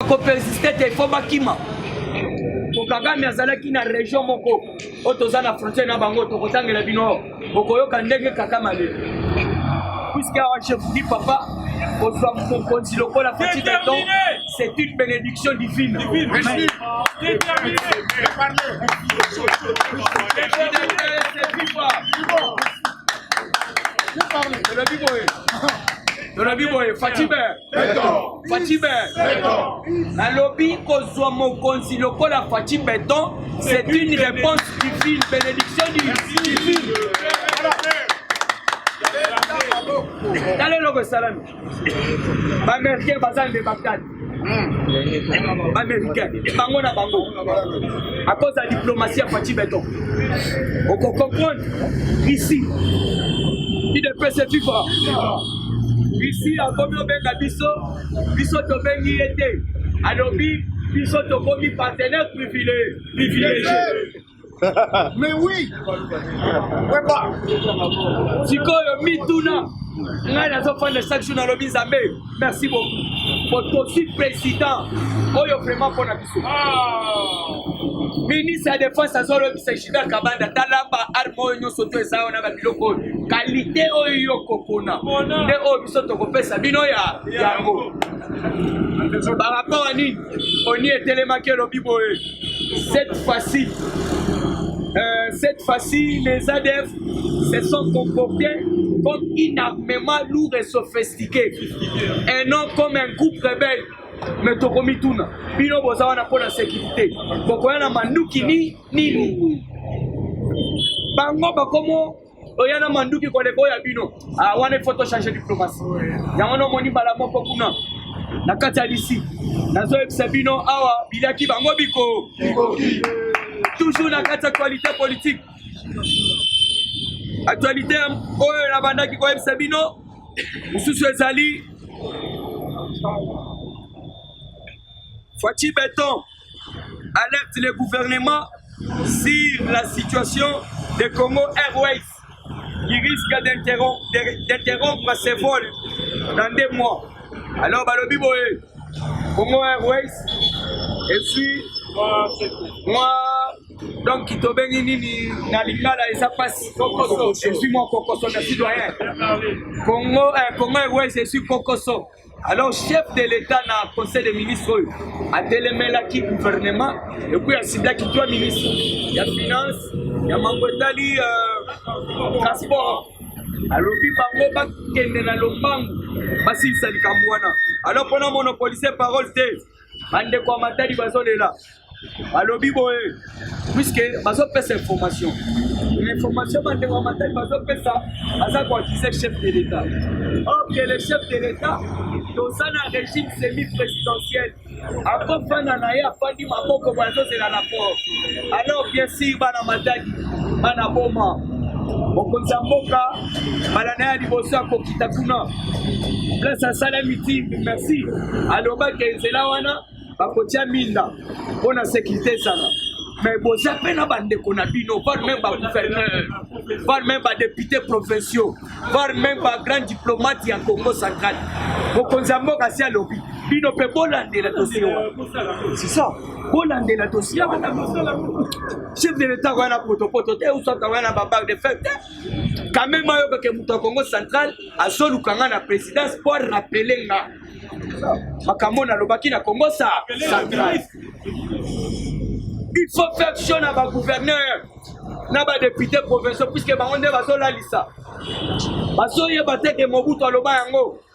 kopersiste te fo bakima po kagame azalaki na région moko oyo toza na frontière na bango tokotangela bino bokoyoka ndenge kagame ale puisque awa je vous dis papa kozwa mokonzi lokola petit beton c'est une bénédiction divine Merci. Merci. tolobi boye tolobi boye fatime Fatshi Beton. Nalobi kozwa mokonzi lokola Fatshi Beton, c'est une réponse divine, bénédiction divine. tala eloko esalami baaméricain baza nde bakali baaméricain bango na bango akoza diplomatie ya faci beton okokomprendre ici idepese vivra Isi akomi obenga biso, biso tobengi ye te. Alobi biso tokomi partenaire privilégié. Mais oui, weba. Sikoyo mituna ngai nazofanda chaque jour nalobi nzambe merci beaucoup po tosi président oyo vraiment mpona ministre ya defense azolobisa gilbert kabanda tala ba arme oyo nyonso to eza wana babiloko oyo kalite oyo yo kokona nde oyo biso tokopesa bino ya yango barapo ya nini oni etelemaki elobi boye cette fois-ci euh, cette fois-ci les adf se sont comportés comme une armement lourd et sophistiqué et non comme un groupe rebelle me tokomituna bino boza wana mpo na sekirite bokoya na manduki ni nini bango bakomo oya na manduki koleko ya bino ah, wana ifo tochange diplomasi yango nomoni mbala moko kuna na kati ya lisi nazoyebisa bino awa biliaki bango biko toujours na kati ya actualité politique actualité oyo nabandaki koyebisa bino mosusu ezali Fatshi Beton alerte le gouvernement sur la situation de Congo Airways qui risque d'interrompre ses vols dans deux mois. Alors balobi boye Congo Airways eswi mwa donc tobengi nini na lingala eza mpasi ezwi mwa kokoso na citoyen congo eh, congo airways ezwi kokoso alors chef de l'état na conseil des ministres oyo atelemelaki gouvernement ekuyi asiblaki trois ministres ya finance ya mambo etali euh, transport alobi bango bakende na lombangu basilisa likambo wana alors mpona monopolise parole te bandeko ya matadi bazolela balobi boye puiske bazopesa information information bandeko ya matadi bazopesa baza koakize chef de l'état or que le chef de l'état toza na régime semi présidentiel akofanda na ye afandi maboko boye azozela na port alors bien sûr bana matadi bana boma mokonzi ya mboka mbala na ye ya liboso akokita kuna place asalami ti merci alobaki nzela wana bakotya minda mpo na sekirite ezala me boza mpe na bandeko na bino var meme bagouverneur var meme badepute provinciaux var meme bagrand diplomate ya congo central mokonzi ya mboka asi alobi bino mpe bolandela dosie wana sisa bolandela dosie wana chef de l'etat wana potopoto te usata wana babac de fete kamema yo kake moto ya congo central azoluka nga na présidence mpo arapele nga makambo nalobaki na congo sa central il faut faire sure na bagouverneur na badepute provinciaux puiske bango nde bazolalisa bazoyeba te ke mobutu aloba yango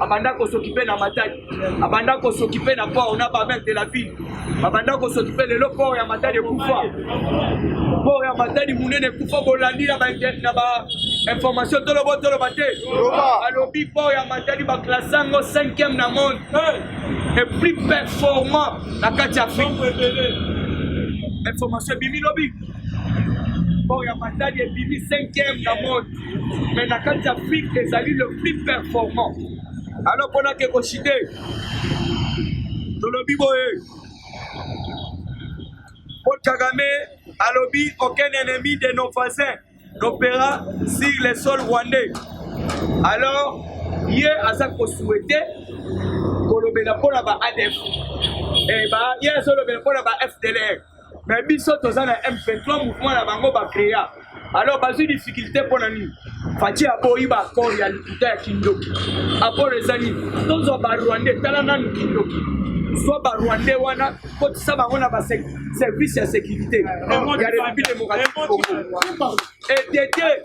abanda kosokipe na matadi abanda kosokipe na port na bamere de la ville babanda kosokipe lelo port ya matadi ekufa port ya matadi monene ekufa bolandi na bainformation tolobo toloba te alobi port ya matadi baklasse yango 5e na monde et plus performant na kati ya afrique information ebimi lobi port ya matadi ebimi 5e na monde mais na kati afrique ezali le plus performant alors mpona ke kosite tolobi boye paul kagame alobi aucun ennemi de nos voisins n'opéra sur le sol rwandais alors ye aza kosouhaite kolobela mpo na ba adf eh, ye azolobela mpo na ba fdlr mais biso toza na m23 mouvement na bango bacrea alors bazwi difficulté mpo na nini fati aboyi baaccord ya lokuta ya kindoki accord eza nini tozwa barwandais tala nanu kindoki zwa barwandais wana kotisa bango na baservice ya sécurité ya république démocratique congo etete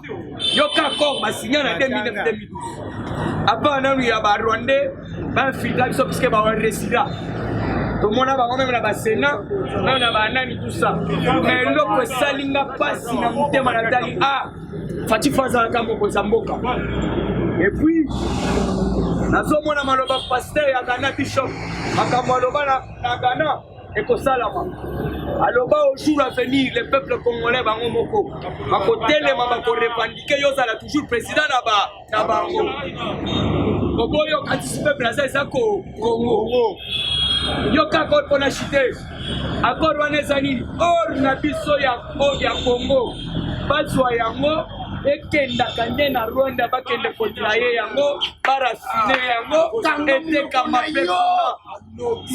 yoka accord basinya na 2012 apa nanu ya barwandais bainfiltra biso puiske baresida tomona bango meme na basena meme na banani tusa ma eloko esali nga mpasi na motema natali a ah, fatifa azalaka mokonzi ya mboka epuis nazomona maloba paster ya gana bishop makambo aloba na gana ekosalama aloba au jour à venir le peuple congolais bango moko bakotelema bakorepandike yo ozala toujours président na bango oboyi okatisi peuple aza eza kongo yo kaka oyo mpona chite akor wana eza nini or na biso ya kongo bazwa yango ekendaka nde na rwanda bakende kotila ye yango barafine yango etekama mpe kuna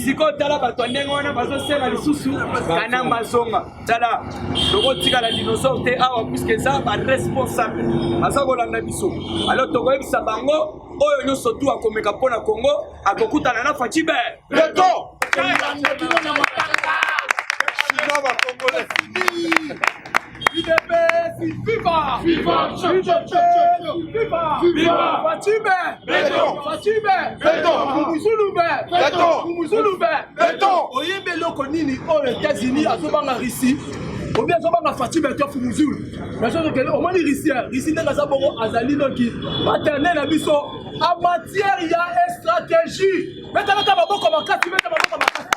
sikoyo tala bato ya ndenge wana bazosenga lisusu kanamba azonga tala tokotikala dinosaure te awa puiske eza baresponsable baza kolanda biso alo tokoyebisa bango oyo nyonso tu akomeka mpo na congo akokutana na facibe beto Udps viva! Viva! Udps viva! Viva! Fatime! Beton! Fatime! Beton! Kumuzulube! Beton! Kumuzulube! Beton! Oyebi eloko nini oyo États-Unis azobanga Russie obi azobanga fatime to fumuzulu nazozokele omoni russie russie ndenge aza bongo azali noki paterne na biso a matière ya stratégie betalaka maboko makasi beta maboko makasi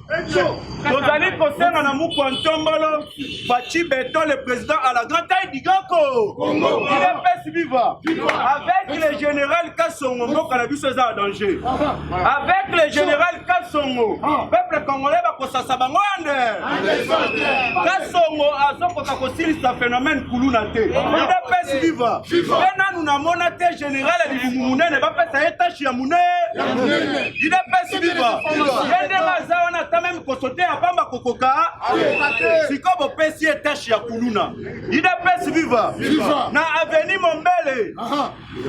tozali kosenga na mukwa ntombolo faci beton le président à la grande taille digako idps viva avec le général kasongo mboka na biso eza ya danger avec le général kasongo peuple congolais bakosasa bango ande kasongo azokoka kosilisa phénomène kuluna te idps viva mpe nanu namona te General ya libumu munene bapesa ye tashi ya munene idepesi biba ye ndenge aza wana ata meme kosote ya pamba kokoka siko bopesi ye tashi ya kuluna idepesi viva na aveni mombele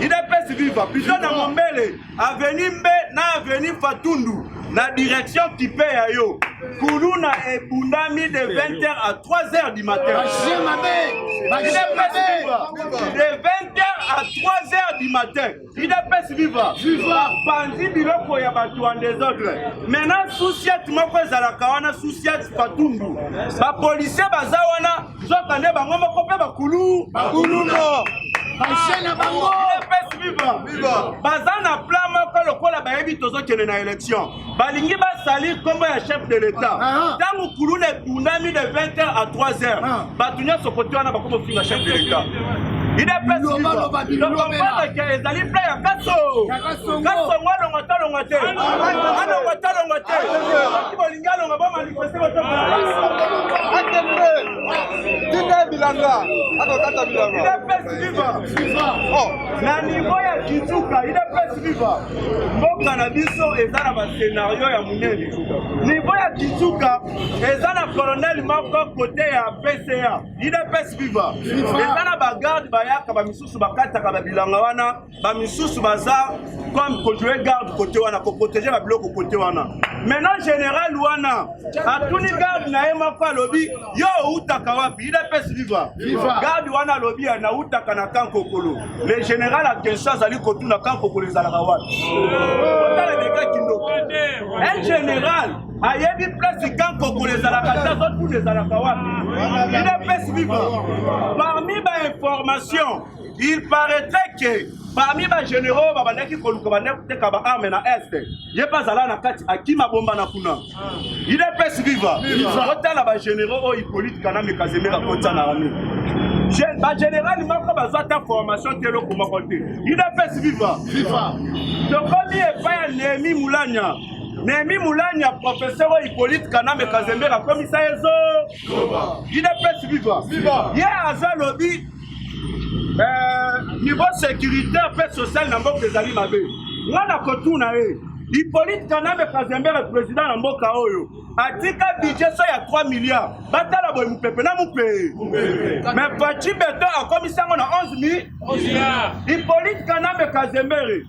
idepesi viva pito na mombele aveni mbe na aveni fatundu na direction kipe ya yo kuluna ebundami de 20h à 3h du matin de 20h à 3h du matin idps viva bapanzi biloko ya bato ya desordre maintenant susiat moko ezalaka wana susiat patundu bapolisier baza wana nzokande bango moko mpe bakulu bakuluno baje na bango baza na plan moko lokola bayebi tozokende na élection balingi basali nkombo ya chef de l'état ntango ah, ah. kuluna ebundami de 20 heures à 3 heures ah. bato nyonso kote wana bakoma ofinga chef de l'état idepesitokompanaka ezali pla ya kaso kasongo alongo talongo te alongo talongo te soki bolingi alongo bomali bilanga akokata bilanga idps viva oh. na niveau ya kituka idps viva mboka na biso eza na bascenario ya monene niveau ya kituka eza na colonel moko kote ya pca idps viva eza na bagarde bayaka bamisusu bakataka babilanga wana bamisusu baza comme controle garde kote wana koprotege babiloko kote wana maintenant général wana atuni garde na ye moko alobi yo outaka wapi idps viva garde wana alobi nautaka na kan kokolo le général akenso azali kotuna kan kokolo ezalaka wapi otala deka kindoko un général ayebi place kan kokolo ezalaka te azotuna ezalaka wapi idps viva parmi bainformation Il paraîtrait que parmi ba généraux babandaki koluka bandaki koteka ba arme na est ye mpe azala na kati akima bomba na kuna idps viva otala ba généraux oyo hippolite kanambe kazembe bakotya na arme bagénéral moko bazwa ata formation te eloko moko te idps viva tokomi epai ya nehemi mulanya nehemi mulanya professeur oyo hippolite kanambe kazembe akomisa ye zo idps viva ye aza lobi eh, niveau sécuritaire mpe social na mboka ezali mabe nga na kotuna ye ipolite kanambe kazembere président na mboka oyo atika budget so ya 3 milliard batala boye mopepe na mopeye me paci beton akomisi yango na 11 mi ipolite kanambe kazembere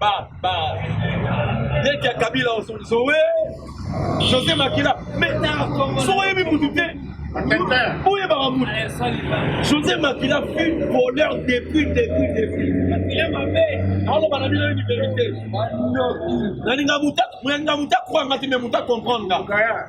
ba ba leki ya kabila zoe josé makila mais soki oyebi mutu te boyebaka mutu josé makila fut voleur depuis depuis depuis aloba na bino yebi verité nalinga muta nalinga muta kwanga te mais muta comprendre nga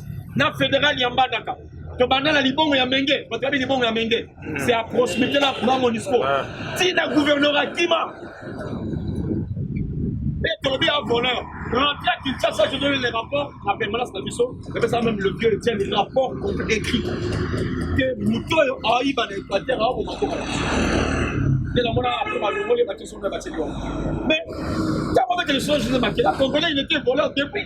na federal ya mbandaka tobanda na libongo ya menge bato yabi libongo ya menge hmm. c'est à proximité na na monisco ah. ti na gouverneur akima mpe tolobi ya voleur rentre à kinshasa je donne les rapports na permanence na biso epesa même le vieux etienne rapport écrit ke moto oyo ayiba na équateur aoboma koka na biso nde namona apre balongoli batisona bateli yango mais ntango bete lisolo jose makela congolais il était voleur depuis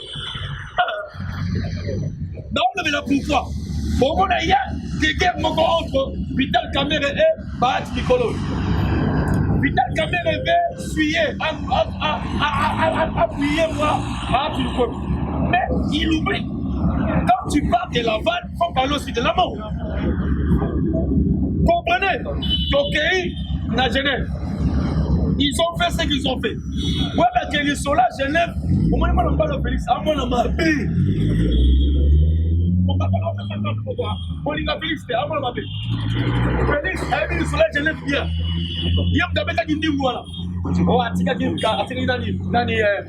baolobela pourkoi bomona ye kekere moko entre vital kamere e bahati likolo vital kamere ve suye apuye mwa bahati likolo mais il oublie quand tu parles de laval faut parler aussi de la mort comprenez tokei na genève ils ont fait ce qu'ils ont fait weba ke lisola genève omoni mwana mobali ya félix amona mabe olinga félix te amona mabe félix ayebi lisola genève bien ye moto abetaki ndingu wana o atikaki atikaki nani nani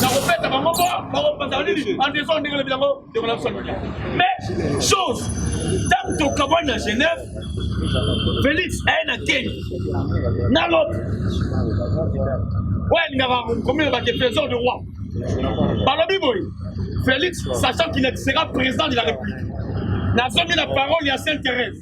nakopesa bango mpo bakopanzaka nini andeson ndenge lobi yango ndeko na biso anonia mais chose ntango tokabwa na genève félix aye na keni na lope oyo alingaka komina bake trésor de roi balobi boye félix sachant qu'il ne sera président de la république nazongi na parole ya sainte thérèse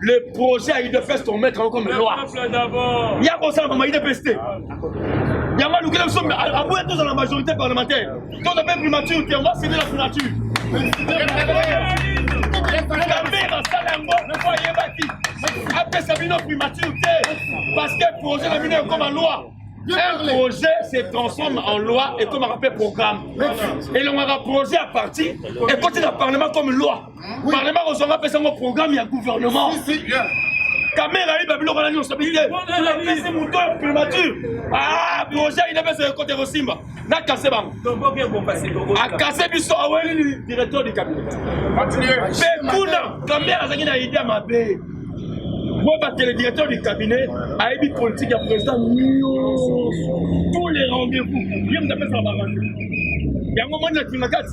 le projet ya udefes tomettre yango comme loi ya kosala mama udps te yango alukela biso aboya tozala na majorité parlementaire toza mpe primature te yango asede la primature kabe basala yango po ayebaki apesa bino primature te parce que projet na bino ekoma loi un projet se transforme en loi et comme un programme. Et l'on a un projet à partir et quand il a parlement comme loi. parlement kozwa nga apesa ngo programme ya gouvernement kamera ayiba biloko na nyonso abili te apesi moto ya primature ah, projet ayina pesa ekote ekosimba nakase bango akase biso aweli directeur du cabinet mpe kuna kamera azalaki na idea mabe mpo batele directeur du cabinet ayebi politique ya président nyonso tous les rendez-vous ye moto apesaka barandez yango moni na kingakati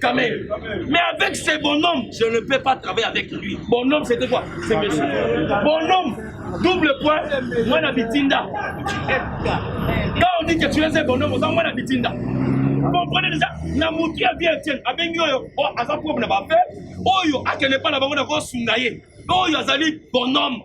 Quand même. Mais avec ces bonhommes, je ne peux pas travailler avec lui. Bonhomme, c'était quoi C'est monsieur. Bonhomme, double point, moi la bitinda. Quand on dit que tu es un bonhomme, on moi la bitinda. comprenez déjà na motu ya vie etienne abengi oyo oh, aza problème na bafe oyo akende mpa na bango na kosunga ye oyo azali bonhomme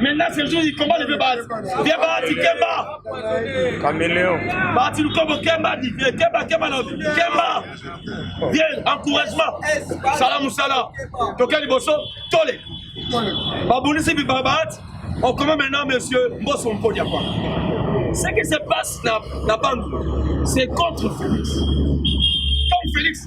Maintenant ce jour il combat le base. Viens Bahati Kemba. Caméléon. Bahati Lukobo Kemba dit viens Kemba Kemba non. Kemba. Viens encouragement. Salam Moussala. Toka liboso tole. Babulisi bi Bahati. On commence maintenant monsieur Mbosso Mpodia quoi. Ce qui se passe na na Bandou, c'est contre Félix. Comme Félix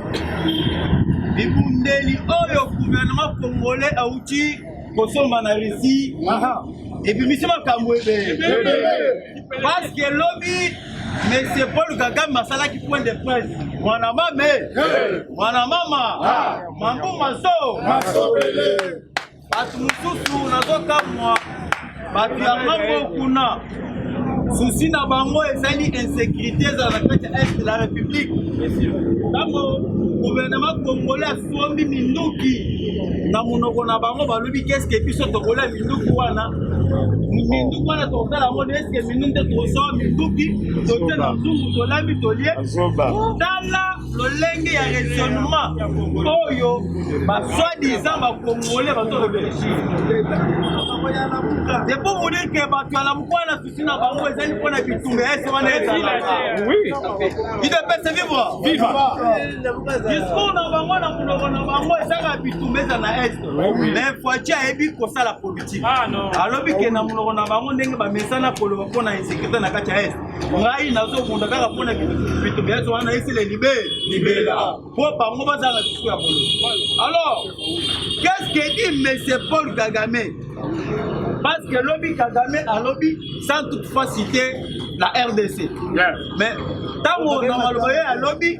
bibundeli oyo gouvernement congolais auti kosomba na russie ebimisi makambo ebele parceke lobi monsieur paul kagame asalaki point de presse mwana mame mwana mama mambu maso Bato mosusu nazokamwa bato ya ngambo kuna susi na bango ezali insécurité ezala na kati ya est la république ntango gouvernement congolais asombi minduki na monoko na bango balobi keske biso tokolia minduki wana minduki wana tokosala yango nde eske minduki nde tokosoa minduki tote na nzungu tolami tolie tala lolenge ya raisonnement oyo baswadisa bakongole bato réfléchir depo monike bato ya lamuku wana susi na bango ezali mpo na bitumba ya ese wana ezalaka idepese vivre discours na bango na monoko na bango ezaka bitumba eza na est mais foici ayebi kosala politike alobi ke na monoko na bango ndenge bamesana koloba mpo na insécurité na kati ya est ngai nazobunda kaka mpona bitu biato wana esila libe libela mpo bango baza na bitu ya bolo alors qu'est ce que dit monsieur paul kagame parce que lobi kagame alobi sans toutefois citer la rdc mais ntango na maloba ye alobi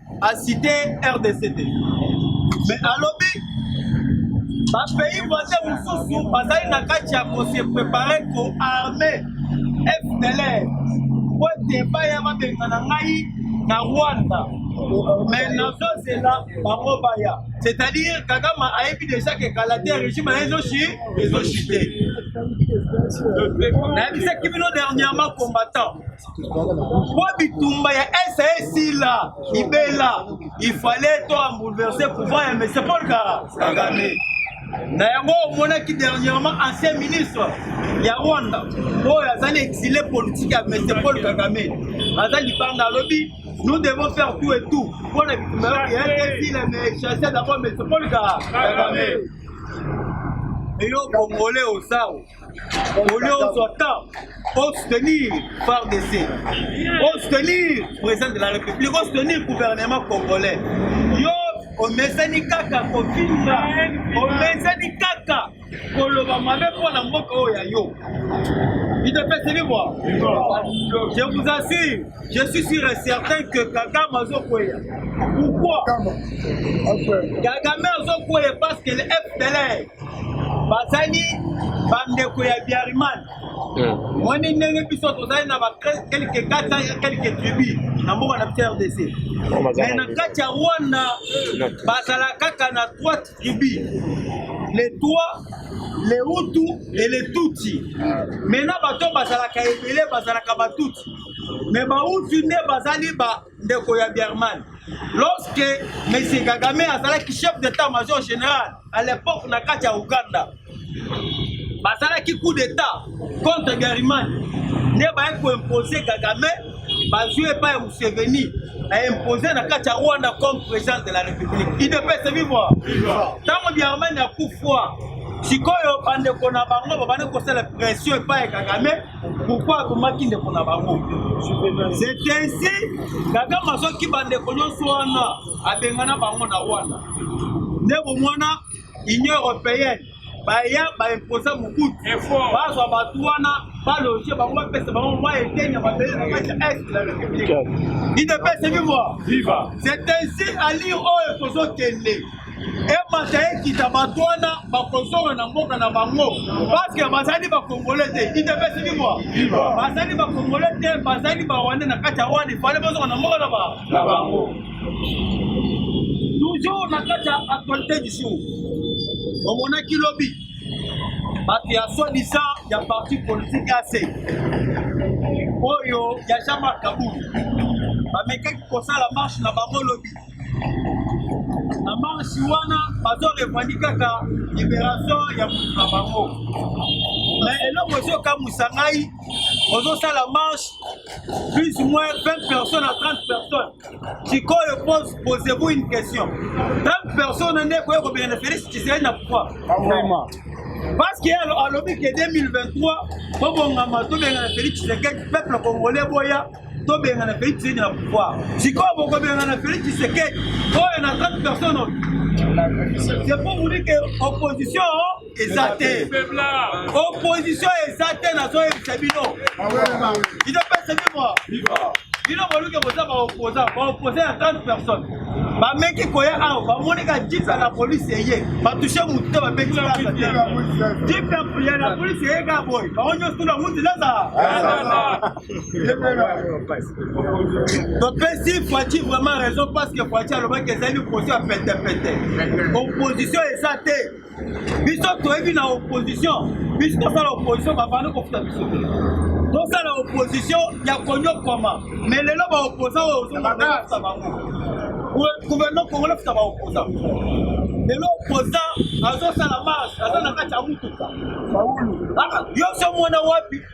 asite rdc te me alobi bapays voisin mosusu bazali na kati ya kose prepare koarme fdlr po ete baya babengana ngai na rwanda me nazozela bango baya c'est-à-dire kagama ayebi deja ke kala te régime na ezoshi ezoshi te nayebisaki bino dernièrement combattant mpo bitumba ya esa esila libela ifale to ambouleverse pouvoir ya monsieur paul kagame na yango omonaki dernièrement ancien ministre ya rwanda oyo azali exile politique ya monsieur paul kagame aza libanda alobi nous devons faire tout et tout mpo na bitumba ya esa esila mais chasse d'abord monsieur paul kagame eyo bongole osao au lieu ozwa temps osoutenir fardc osoutenir président de la république osoutenir gouvernement congolais yo omesani kaka kofinga omesani kaka koloba mabe mpo na mboka oyo ya yo itepeseli bwa je vous assure je suis sûr et certain que kagame azokweya pourquoi kagame azokweya parce que le fdlr bazali bandeko ya biariman hmm. moni ndenge biso tozali na bakelke kata ya kelke tribu na mboka na biso rdc oh, mai na kati ya rwanda bazala kaka na trois tribu le trois le hutu e le tutsi mai na bato bazalaka ebele bazalaka batuti mai bauti nde bazali ba ndeko ya Berman lorsque Monsieur Kagame azalaki chef d'état major général à l'époque na kati ya Ouganda bazalaki coup d'état contre Gariman nde baye koimpose Kagame bazwi epai ya Museveni aimpose na kati ya Rwanda comme président de la République idepese vivre ntango Gariman akufwa sikoyo bandeko na bango babandi kosala pression epai ya Kagame pourkui abomaki ndeko na bango c'est ainsi kagame azwaki bandeko nyonso wana abengana bango na rwanda nde bomwana union européenne baya baimposa mobutu bazwa bato wana baloge bango bapesa bango mwa eteni ya mabele na kati ya est la république idepesemi mwa c'est ainsi alire oyo tozokende emata ekita bato wana bakozonga na mboka na bango paske bazali bakongole te idepesi bibwa bazali bakongole te bazali barwande na kati ya rwanda ifale bazonga na mboka na bango toujours na kati ya actualité du jour omonaki lobi bato ya soi-disant ya parti politique ac oyo ya jean marc kabulu bamekaki kosala marche na bango lobi na marche wana bazo revendique kaka liberation ya moto na bango mais eloko ezokamwisa ngai ozosala marche plus ou moins 20 personnes à 30 personnes sikoyo pose posez-vous une question 30 personnes nde ekoya kobengana félix tshisekedi na pouvoir parce que alobi ke 2023 bobongama tobengana félix tshisekedi peuple congolais boya tobengana felix tshisekedi na pouvoir sikoyo bokobengana felix tshisekedi oyo na 30 personne oyo c'est pour vous dire que opposition eza te opposition eza te nazoyebisa bino idopesa bino bino boluki boza baoposa baoposa ya 30 personne bameki koya awa bamonika jisa na polisi eye batushe motu te babeki kaka te jipe ya polisi eye kaka boye bango nyonso tuna muti naza topesi fati vraiment raison parce que fati alobaki ezali opposition ya petepete opposition eza te biso toyebi na opposition biso tosala opposition bavandi kofuta biso te tosala opposition ya konyokwama me lelo baoposa oyo ozongafuta bango gouvernement congolais futa baoposa lelo oposa azosala marche aza na kati ya mutuka yo so mwana wapi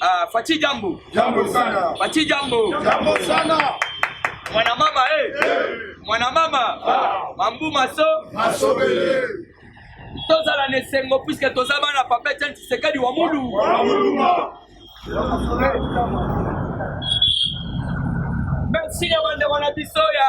Ah, Fati jambo. Jambo sana. Fati jambo. Jambo sana. Mwana mama eh. Hey. Mwana mama. Ah. Mambu maso. Masobele. Tozala na esengo puisque toza bana papa Etienne Tshisekedi wa Mulu. Wa Muluma. Merci ya bande wana biso ya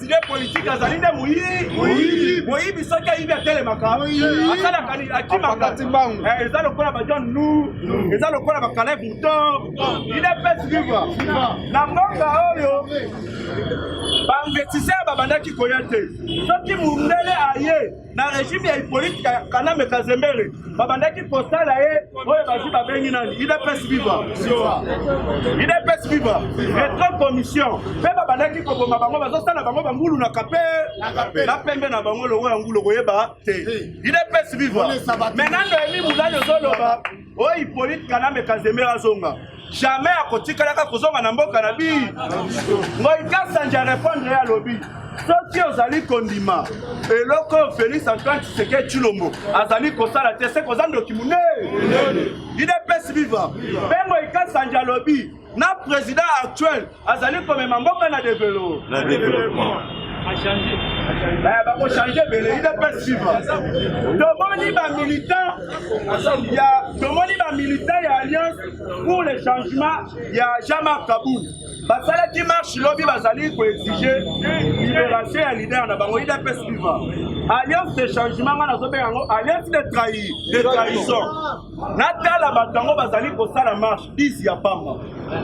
Nde politiki azali nde moyibi moyibi, soki ayibi atelemaka, asalaka nini? Akimaka. Eh, eza lokola ba John Nu, eza lokola ba Caleb Mouton, il est best vivre na mboka oyo ba investisseurs babandaki koya te, soki mundele aye na regime ya Hippolyte Kanambe Kazembere babandaki kosala ye oyo bazi babengi nani UDPS viva UDPS viva retro commission mpe babandaki koboma bango bazosala bango bangulu na kape na pembe na bango longo ya ngulu koyeba te UDPS viva menando emi mulali ozoloba oyo Hippolyte Kanambe Kazemera azonga jamais akotikalaka kozonga na mboka na bi ngoi kasanja repondre ye alobi soki ozali kondima eloko oyo félix antoine tshisekedi tshilombo azali kosala te se koza ndoki monene idps viva mpe ngoi kasanja alobi na president actuel azali komema mboka na develo na developpement eh, bakochange ebele idps viva tomoni bamilitant ya tomoni bamilitant ya alliance pour le changement ya jean-marc kabou basalaki marche lobi bazali koexige liberation ya leader na bango idps viva alliance de changement ngai nazobenga yango alliance de trahi de trahison natala bato yango bazali kosala marche 10 ya pamba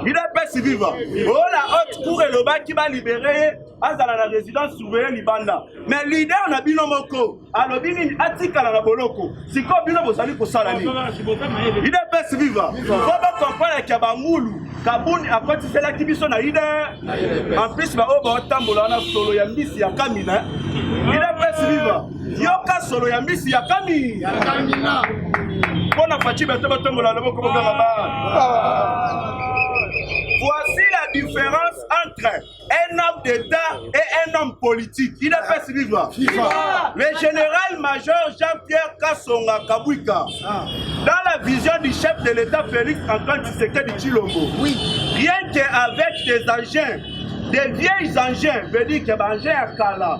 udps viva ola haute cour elobaki balibere ye azala na résidence surveille libanda mais leader na bino moko alobi nini atikala na boloko sikoyo bino bozali kosala nini udps viva po bocomprendre kia bangulu kabuni akotiselaki biso na udr en plus baoyo baotambola wana solo ya mbisi ya kamina udps viva yoka solo ya mbisi ya kami ya kamina mpo na faci bato batombola loboko bokanga ba voici la différence entre un homme d'état et un homme politique il a fait ce livre le général major jean-pierre kasonga kabwika ah. dans la vision du chef de l'état félix antoine tshisekedi tshilombo oui. rien qu'avec des engins des vieilles engins veut dire que baengins ya kala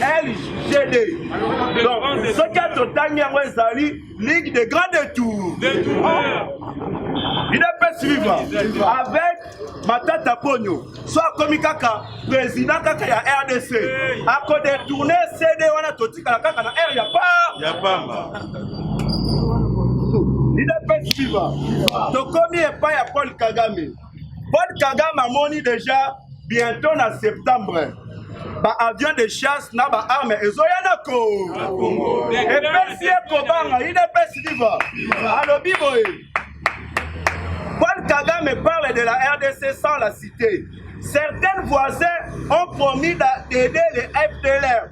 LGD. Donc, ce que totangi yango ezali Ligue des grands détours. Il est pas suivre avec Matata Pogno. Soit akomi kaka président kaka ya RDC. Ako détourner CD wana totikala kaka na R ya pa. Ya pamba. Il est pas suivre. Tokomi epai ya Paul Kagame. Paul Kagame amoni deja bientôt na septembre ba avion de chasse na ba arme ezoya na ko epesi ye kobanga udps viva alobi boye Paul Kagame parle de la RDC sans la citer. Certains voisins ont promis d'aider les FDLR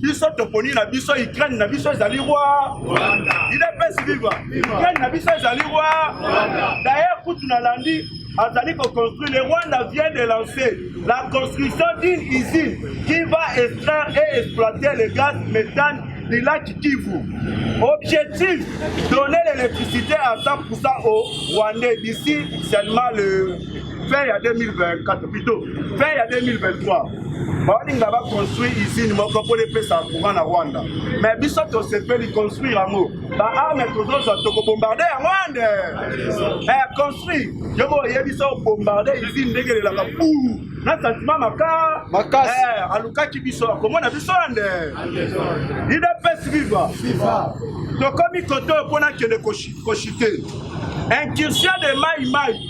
biso toponi na biso ukraine na biso ezali rwa idps viva ukraine na biso ezali rwa dayer kutu nalandi azali koconstruire le rwanda vient de lancer la construction d'une usine qui va extraire et exploiter le gaz méthane du lac Kivu. Objectif, donner l'électricité à 100% aux Rwandais d'ici seulement le fin ya 2024 plutôt fin ya 2023 balinga baconstruire usine moko mpo epesa courant na rwanda mais biso tosepeli construire yango baarme tozozwa tokobombarde ya rwanda eh, construire yo mo oyebisa obombarde usine ndenge elelaka buu na santima maka makasi eh, alukaki biso akomona biso ande idps viva tokomi koto mpo nakende koshite incursion de mai mai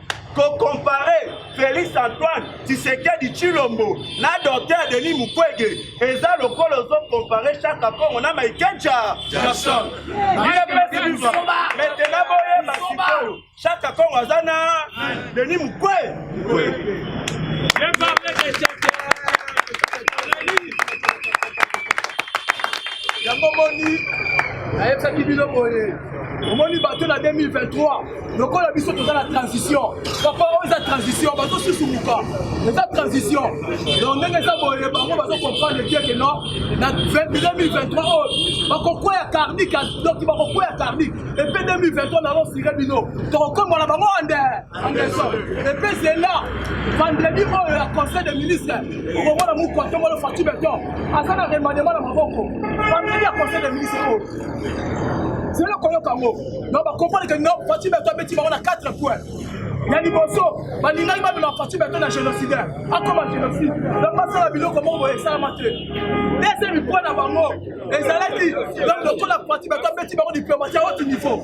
kokompare Felix Antoine Tshisekedi Tshilombo na Docteur Denis Mukwege eza lokola ozokompare Shaka Kongo na Michael Jackson. Maintenant boyeba sikoyo Shaka Kongo aza na Denis Mukwege. yango moni nayebisaki bino boye omoni bato na 2023 lokola biso toza na transition papa oyo eza transition bazosusumuka eza transition donc ndenge eza boye bango bazokomprendre keke no na 2023 oyo bakokweya karnik donc bakokweya karnik epe 2023 nalosire bino tokokombola bango ande anderson epe zela vendredi oyo ya conseil de ministre okomona mokwatomolo fati beton aza na remandema na maboko vendredi ya conseil de ministre oyo zela koyoka yango na bakomprendre ke no fati beto abeti bango na 4 point ya liboso balingaki bamema fati beto na génocidaire akoma génocide donc basala biloko moko boye esalama te deuxième point na bango ezalaki donc lokola fati beto abeti bango diplomatie ya haute niveau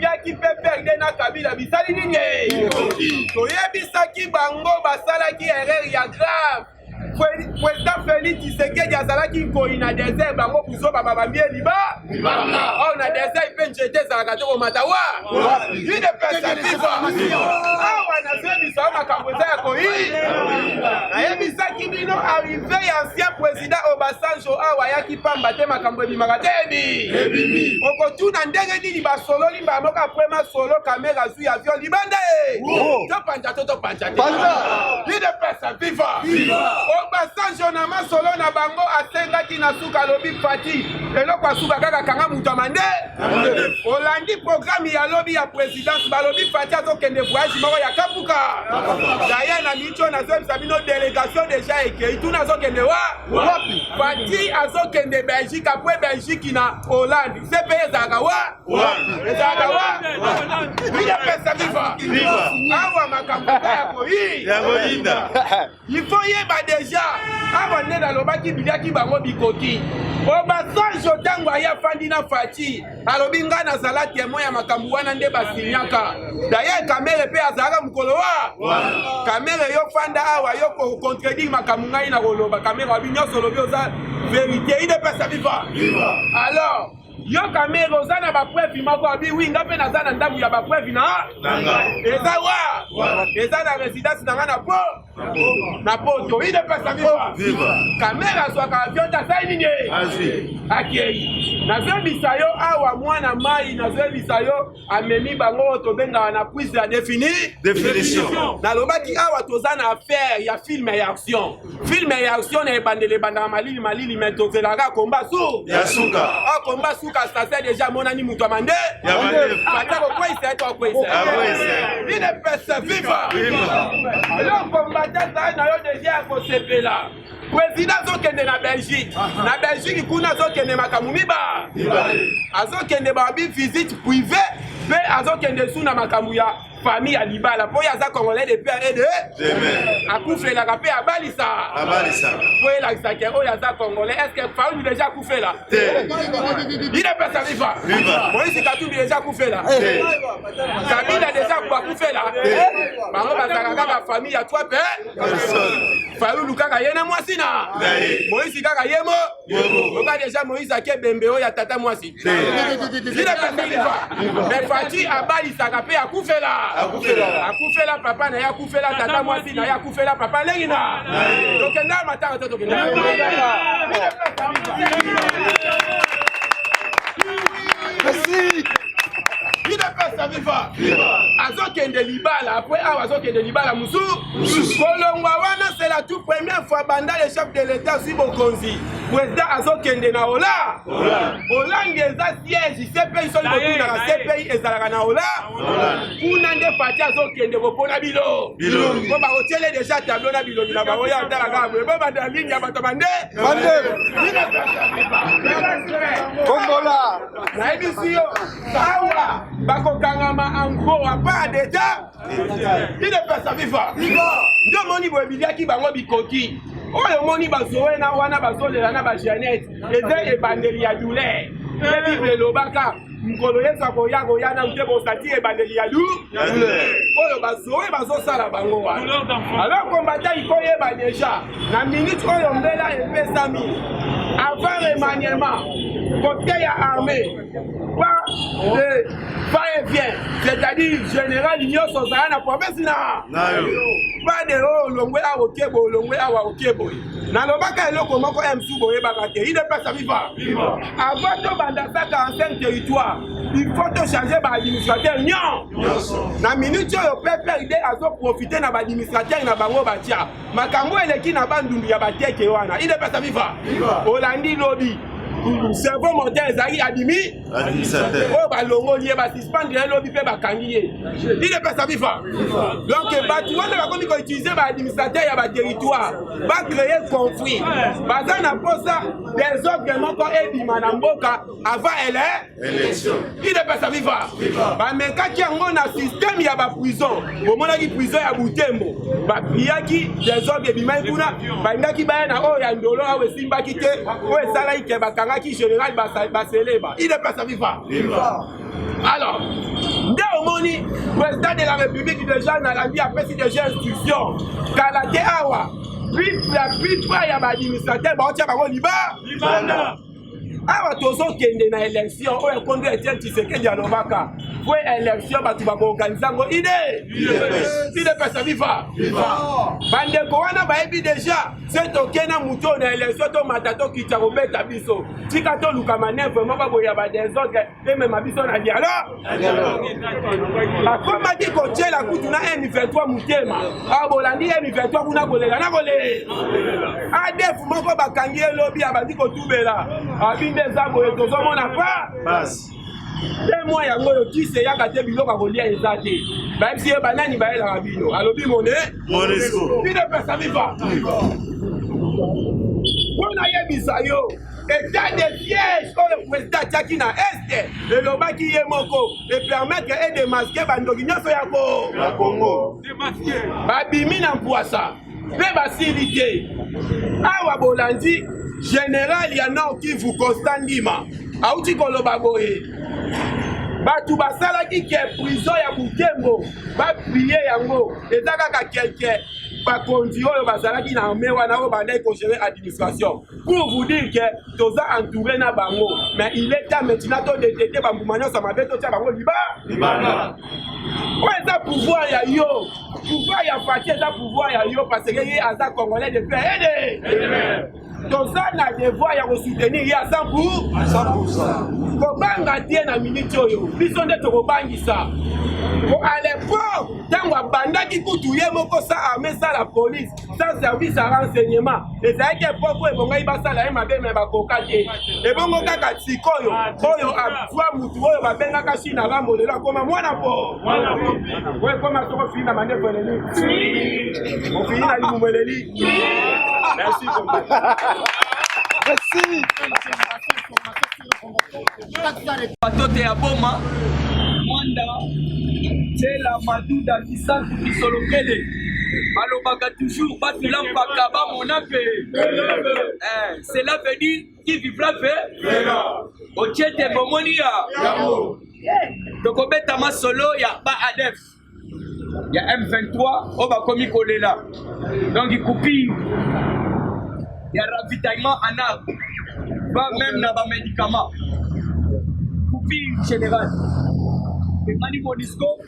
yaki PPRD na Kabila bisali nini? Toyebisaki bango basalaki erreur ya grave. President Felix Tshisekedi azalaki nkoi na desert bango buzoba babambie liba oyo na desert mpe njete ezalaka te komata wa une perspective awa nazoyebisa yo makambo eza ya koyi nayebisaki bino arrive ya ancien president President Obasanjo awa ayaki pamba te makambo ebimaka te ebimi okotuna ndenge nini basololi mbala moko apres masolo kamere azwi avion libanda e topanza to topanza te idepesa viva Obasanjo na masolo na bango asengaki na suka alobi fati eloko asuka kaka kanga moto ya mande olandi programe ya lobi ya president Dans balobi Fati azokende voyage moko ya Kapuka. D'ailleurs na micho nazoyebisa bino délégation déjà ekei tuna azokende wa wapi? Fati azokende Belgique apres Belgique na Hollande. CP ezalaka wa wapi? Ezalaka wa Bila pesa viva. Awa makambo ya koyi. Ya koyinda. Il faut yeba deja awa nde nalobaki biliaki bango bikoki obasanjo ntango aye afandi na faci alobi ngai nazala temoin ya makambo wana nde basinyaka daye kamere mpe azalaka mokolo wa kamere yo fanda awa yo kocontredire makambo ngai na koloba kamere wabi nyonso olobi oza verité idepesa viva alors Yo kamere oza na bapreuve moko abi wi nga mpe naza na ndambu ya bapreuve na eza wa eza na residence na nga na po na poto ine pesa viva kamere azwaka avion te asali nini akei nazoyebisa yo awa mwana mai nazoyebisa yo amemi bango oyo tobengaka na prise ya défini définition nalobaki awa toza na affaire ya film ya action film ya action na ebandela ebandaka malili malili me tozelaka komba su ya suka a komba suka sase deja amonani moto ya mande ata kokweisa eto akweisa ine pese viva yo kombata zai na yo deja ya kosepela Président azokende na Belgique. Na Belgique kuna azokende makambo miba. Azokende ba bi visite privée mpe azokende su na makambo ya famille ya libala mpo ye aza congolais de père et de akufelaka mpe abalisa mpo elakisa ke oyo aza congolais est ce que faulu deja akufela il est pesa viva moïse katumbi deja akufela kabila deja akufela bango bazalaka kaka famille ya trois père Fayulu kaka ye na mwasi na Moïse kaka ye mo oka deja Moïse ake bembe oyo ya tata mwasi vile pesaliva me Fatshi abalisaka mpe akufela akufela papa na ye akufela tata mwasi na ye akufela papa lengi na tokenda matanga to tokenda Merci. udps viva azokende libala apres awa azokende libala mosusu kolongwa wana c'est la tout première fois banda le chef de l'état azwi bokonzi président azokende na ola hollande eza siège cpi soki botunaka cpi ezalaka na ola kuna nde fati azokende kopona bilo po bakotiele deja tableau na bilongi na bango ya otala kaka boye bo banda ligne ya bato bande bongola nayebisi yo awa bakokangama ango apa deja ide pesa viva nde omoni boye biliaki bango bikoki oyo omoni bazowe na wana bazolela na bajanete eza ebandeli ya douleur mpe bible elobaka mokolo yesu akoya koya nanu te bosati ebandeli ya lu oyo bazowe bazosala bango wana alors kombata ikoyeba deja na minute oyo mbela epesami avant remaniement côté ya armée pas de va et vient c'est-à-dire général nyonso ozala na promesi na pas de oyo olongwe awa oke boye olongwe awa oke boye nalobaka eloko moko msu boyebaka te idepesa viva avant tobanda sa 45 territoire il faut tochange baadministrateur nyon na minute oyo pprd azoprofite na baadministrateur na bango batya makambo eleki na bandundu ya bateke wana idepesa viva olandi lobi cerveau mortel ezalaki adimi oyo balongoli ye basuspendre ye lobi mpe bakangi ye idepesa viva donc bato wana bakomi koutilize baadministrateur ya baterritoire bacreye conflit baza na mposa desordre moko ebima na mboka avant ele idepesa viva bamekaki yango na systeme ya baprison bomonaki prison ya butembo bapiyaki desordre ebimaki kuna bandaki baya na oyo ya ndolo awa esimbaki te oyo esalaki ke bakangaki général baseleba idepesa viva alors nde omoni président de la république déjà nalandi apesi déjà instruction kala te awa la plupart ya baadministrateur baotya bango liba awa tozokende na election oyo ekomi etienne tshisekedi alobaka po election bato bakoorganize yango ide idepesa viva bandeko wana bayebi deja se toke na moto oyo na election tomata tokita kobeta biso tika toluka manevre moko boya badesordre emema biso na dialogue bakomaki kotyela kutu na m23 motema awa bolandi m23 kuna kolela na kolela adef moko bakangi ye lobi abandi kotubela abi nde eza boye tozomona pa te mwa yango oyo kisi eyaka te biloko ya kolia eza te bayebisi ye banani bayelaka bino alobi mone bino pesa miva mpo nayebisa yo etat de siège oyo president atiaki na este elobaki ye moko epermettre e demaske bandoki nyonso ya kongo babimi na mpwasa mpe basili te awa bolandi general ya nord kivu constant ndima auti koloba boye bato basalaki ke prizo ya butembo baprie yango eza kaka kelke bakonzi oyo bazalaki na arme wana oyo bandaki kogere administration pour vous dire que toza entouré na bango mais il est temps maintenant todetete bambuma nyonso mabe totya bango liba libanda oyo eza pouvoir ya yo pouvoir ya fati eza pouvoir ya yo parce que ye aza congolais de pe ede toza na devoir ya kosoutenir ye aza pour kobanga te na miniti oyo biso nde tokobangisa po à l'époque ntango abandaki kutu ye moko sa arme sa la police sans service ya renseignement ezalaki epoko ebongaki basala ye mabe me bakoka te ebongo kaka sikoyo oyo azwa motu oyo babengaka china rambo lelo akoma mwana po oyo ekoma soko ofini na mandefu eleli ofini na libumu eleli merci merci Batote ya Boma, Mwanda, Tshela, Maduda, Kisantu, Kisolokele balobaka toujours batu la mpaka bamona mpe eh, cela veut dire qui vivra mpe otie te bomoni ya tokobeta masolo ya ba adef ya M23 oyo bakomi kolela donc coupure ya ravitaillement en arbre va même na bamédicament coupure général emani monisco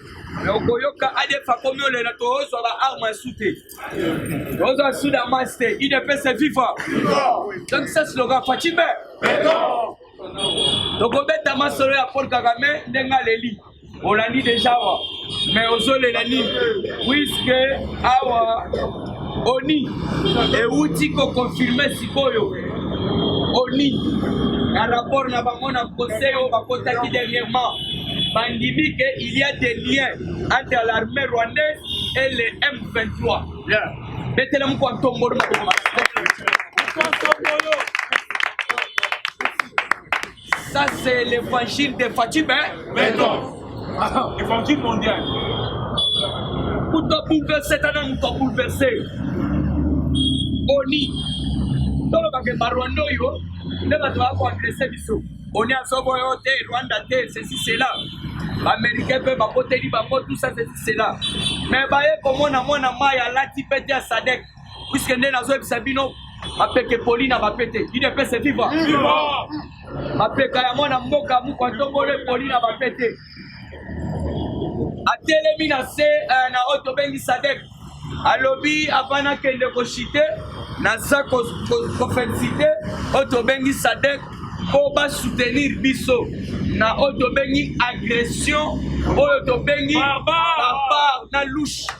me okoyoka adf akomi olela tozwa baarme ya su te tozwa su damas te idps viva donc sa slogan facibe tokobeta masolo ya paul kagame ndenge aleli olandi deja awa mais ozolela nini puiske awa oni ewuti kokonfirme sikoyo oni na rapport na bango na conseil oyo bakotaki dernièrement bandimi ke il y a des liens entre l'armée rwandaise et le m23 betela moko antombolo maboko Ça c'est l'évangile de Fatih Beton. Évangile mondial. Pour te bouleverser, t'as même te bouleverser. Oni. toloba ke barwanda oyo nde bato baya koadrese biso oni azobo yo te rwanda te ceci cela baaméricain mpe bakoteli bango tout ça ceci cela mais baye komona mwana mai alati mpe te ya sadek puiske nde nazoyebisa bino mapeke poli na bapete udps viva mapeka ya mwana mboka mokwa ntongolo epoli na bapete atelemi na se eh, na oyo tobengi sadek alobi avant nakende koshite naza kofelisite oyo tobengi sadek mpo basoutenir biso na oyo tobengi agression oyo tobengi barbare na louche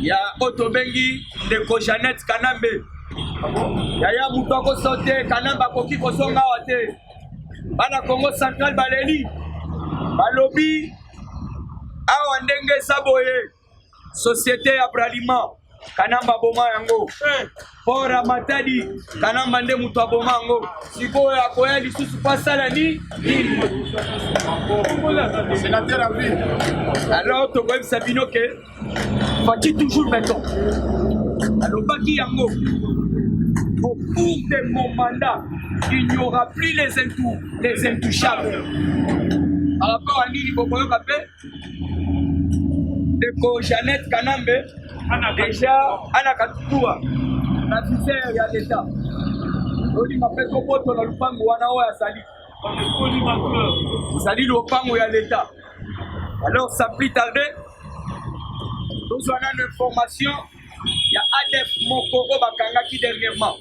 ya oyo tobengi ndeko janete kanambe yaya moto akoso te kanambe akoki kozonga awa te bana congo central baleli balobi awa ndenge eza boye société ya braliment kanamba boma yango eh. Bora Matadi Kanamba nde moto aboma yango, sikoyo akoya lisusu mpo asala nini? Alors tokoyebisa bino ke Fatshi toujours beton alobaki yango au cours de mon mandat il n'y aura plus les, intou, les intouchables par rapport à nini bokoyoka mpe ndeko Jeannette Kanambe deja ana katutua na viseur ya leta olinga mpe koboto na lupango wana oyo azali ezali lopango ya leta alors sapli tarde tozwa nano information ya adf moko oyo bakangaki dernièrement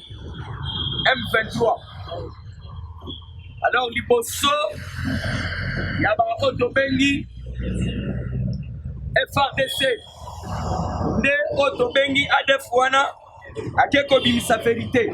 m23 alors liboso ya baoyo tobengi frdc nde oyo tobengi adf wana ake kobimisa verite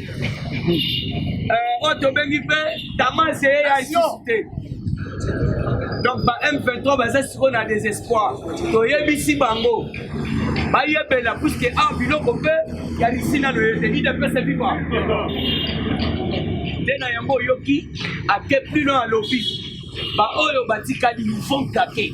Euh, oyo tobengi mpe tamase ye ya lisusu te donc ba m23 baza sikoyo na désespoir toyebisi bango bayebela puiske a ah, biloko mpe ya lisina loye te idepese viva nde na yango oyoki ake plus loin alobi baoyo batikali vont kake